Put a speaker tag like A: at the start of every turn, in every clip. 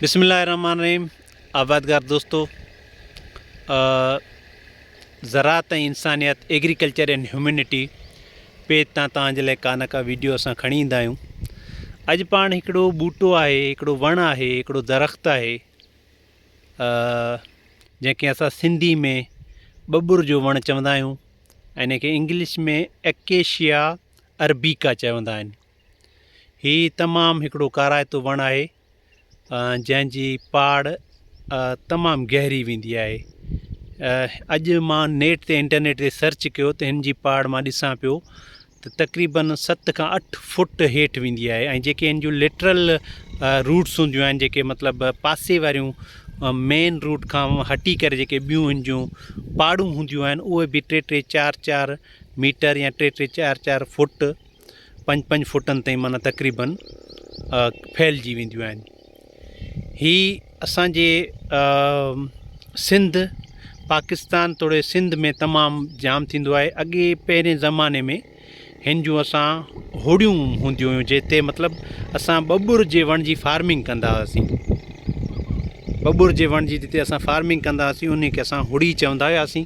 A: بسم الله الرحمن الرحيم آبادگار دوستو زراعت ۽ انسانيت ايگريڪلچر اينڊ هيومينٽي پيج تان تان جي لاء ڪا نه ڪا ويڊيو اسان کڻي ايندا آهيون اڄ پاڻ هڪڙو ٻوٽو آهي هڪڙو وڻ آهي هڪڙو درخت آهي جنهن کي اسان سنڌي ۾ ٻٻر جو وڻ چوندا آهيون ان کي انگلش ۾ اڪيشيا اربيڪا چوندا آهن هي تمام هڪڙو ڪارائتو وڻ آهي جنهن جي پاڙ تمام گهري ويندي آهي اڄ مان نيٽ تي انٽرنيٽ تي سرچ ڪيو ته هن جي پاڙ مان ڏسان پيو ته تقريبن ست کان اٺ فوٽ هيٺ ويندي آهي ۽ جيڪي هن جون لٽرل روٽس هونديون آهن جيڪي مطلب پاسي واريون مين روٽ کان هٽي ڪري جيڪي ٻيون هن جون پاڙون هونديون آهن اهي بي ٽي ٽي چار چار ميٽر يا ٽي ٽي چار چار فوٽ پنج پنج فوٽن تائين معنيٰ تقريبن ڦهلجي وينديون آهن هي اسانجي سنڌ پاڪستان توڙي سنڌ ۾ تمام جام ٿيندو آهي اڳي پهرين زماني ۾ هن جون اسان هوڙيون هونديون هيون جتي مطلب اسان ٻٻر جي وڻ جي فارمنگ ڪندا هئاسين ٻٻر جي وڻ جي جتي اسان فارمنگ ڪندا هئاسين انهي کي اسان هوڙي چوندا هياسين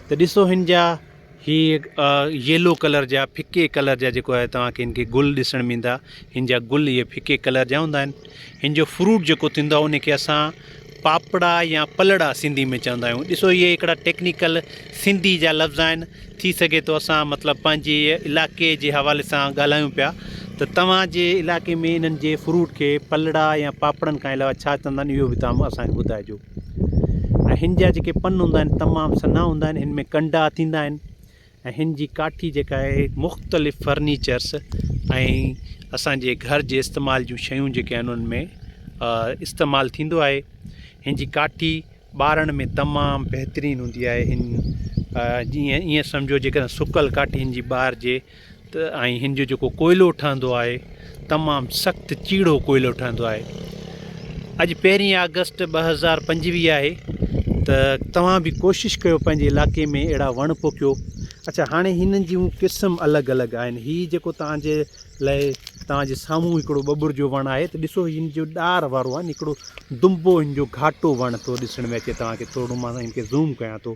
A: ته ڏسو هن جا هي ييلو ڪلر جا ڦڪي ڪلر جا جيڪو آهي توهان کي هن کي گل ڏسڻ ۾ ايندا هن جا گل اهي ڦڪي ڪلر جا هوندا آهن هن جو فروٽ جيڪو ٿيندو آهي ان کي اسان پاپڙا يا پلڙا سنڌي ۾ چوندا آهيون ڏسو اهي هڪڙا ٽيڪنيڪل سنڌي جا لفظ آهن ٿي سگهي ٿو اسان مطلب پنهنجي علائقي جي حوالي سان ڳالهايون پيا ته توهان جي علائقي ۾ انهن جي فروٽ کي پلڙا يا پاپڙن کان علاوه ڇا چوندا آهن اهو بي تام اسان کي ٻڌائجو ۽ هن جا جيڪي پن هوندا آهن تمام سنها هوندا آهن هن ۾ ڪنڊا ٿيندا آهن ۽ هن جي ڪاٺي جيڪا آهي مختلف فرنيچرس ۽ اسانجي گهر جي استعمال جون شيون جيڪي آهن انهن ۾ استعمال ٿيندو آهي هن جي ڪاٺي ٻارڻ ۾ تمام بهترين هوندي آهي هن جي ائين سمجهو جيڪڏهن سڪل ڪاٺي هن جي ٻارجي ته ۽ هن جو جيڪو ڪوئلو ٺهندو آهي تمام سخت چيڙهو ڪوئلو ٺهندو آهي اڄ پهرين آگسٽ ٻه هزار پنجويهه آهي ته توهان به ڪوشش ڪيو پنهنجي علائقي ۾ اهڙا وڻ پوکيو اچا هاڻي هنن جون قسم الڳ الڳ آهن هي جيڪو توهان جي لاء توهان جي سامهون هڪڙو ٻٻر جو وڻ آهي ته ڏسو هن جو ڏار وارو آهن هڪڙو دنبو هن جو گهاٽو وڻ ٿو ڏسڻ ۾ اچي توهان کي ٿورو مان هن کي زوم ڪيان ٿو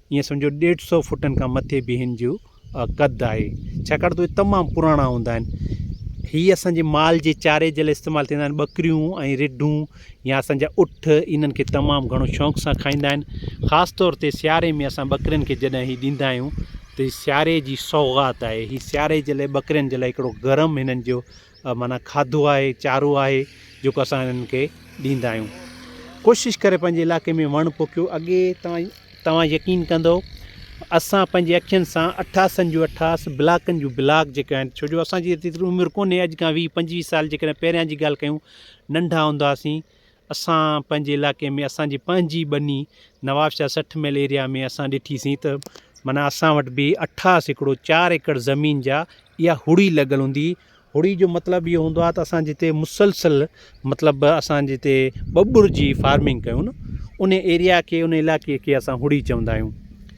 A: ائين سمجهو ڏيڍ سئو فوٽن کان مٿي به هن جو قد آهي ڇاڪاڻ ته اهي تمام پراڻا هوندا آهن هي اسان جي مال جي چاري جي لاء استعمال ٿيندا آهن ٻڪريون ۽ رڍون يا اسان جا اٺ انهن کي تمام گهڻو شوق سان کائيندا آهن خاص طور تي سياري ۾ اسان ٻڪرين کي جڏهن هي ڏيندا آهيون ته سياري جي سوغات آهي هي سياري جي لاء ٻڪرين جي لاء هڪڙو گرم هنن جو معنيٰ کاڌو آهي چارو آهي جيڪو اسان انهن کي ڏيندا آهيون ڪوشش ڪري پنهنجي علائقي ۾ وڻ پوکيو اڳي توهان توهان يقين ڪندو اسان پنهنجي اکين سان اٺاسن جون اٺاس بلاڪن جون بلاڪ جيڪي آهن ڇو جو اسان جي ايتري عمر ڪونهي اڄ کان ويهه پنجويهه سال جيڪڏهن پهريان جي ڳالهه ڪيون ننڍا هوندا هئاسين اسان پنهنجي علائقي ۾ اسان جي پنهنجي ٻني نواب شاهه سٺ ميل ايريا ۾ اسان ڏٺي سين ته معنيٰ اسان وٽ به اٺا سيڪڙو چار ايڪڙ زمين جا اها هڙي لڳل هوندي هڙي جو مطلب اهو هوندو آهي ته اسان جتي مسلسل مطلب اسان جتي ٻٻر جي فارمنگ ڪيون ان ايريا کي ان علائقي کي اسان هڙي چوندا آهيون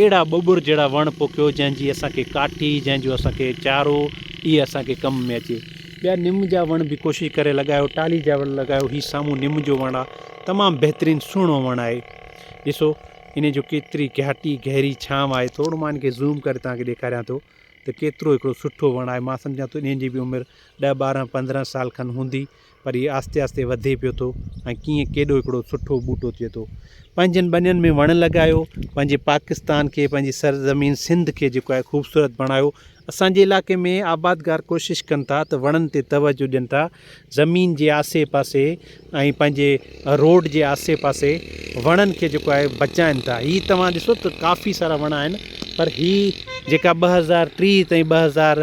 A: اهڙا ٻٻر جهڙا وڻ پوکيو جنهن جي اسان کي ڪاٺي جنهن جو اسان کي چارو اهي اسان کي ڪم ۾ اچي ٻيا نم جا وڻ به ڪوشش ڪري لڳايو ٽالهي جا وڻ لڳايو هي سامهون نم جو وڻ آهي تمام بهترين سهڻو وڻ آهي ڏسو ان جو ڪيتري گهاٽي گهري ڇانو آهي ٿورو مان ان کي زوم ڪري توهان کي ڏيکاريان ٿو ته ڪيترو هڪڙو سٺو وڻ آهي مان سمجهان ٿو ان جي به عمر ڏهه ٻارهن پندرهن سال کن هوندي پر هي آهستي آهستي وڌي پيو ٿو ۽ ڪيئن ڪيڏو هڪڙو سٺو ٻوٽو ٿئي ٿو پنهنجن ٻنين ۾ وڻ لڳايو پنهنجي پاڪستان کي پنهنجي سرزمين سنڌ کي جيڪو آهي خوبصورت بڻايو اسان جي علائقي ۾ آبادگار ڪوشش ڪن ٿا ته وڻن تي توجه ڏين ٿا زمين جي آسي پاسي ۽ پنهنجي روڊ جي آسي پاسي وڻن کي جيڪو آهي بچائن ٿا هي توهان ڏسو ته ڪافي سارا وڻ آهن پر هي جيڪا ٻه هزار ٽيهه تائين ٻه هزار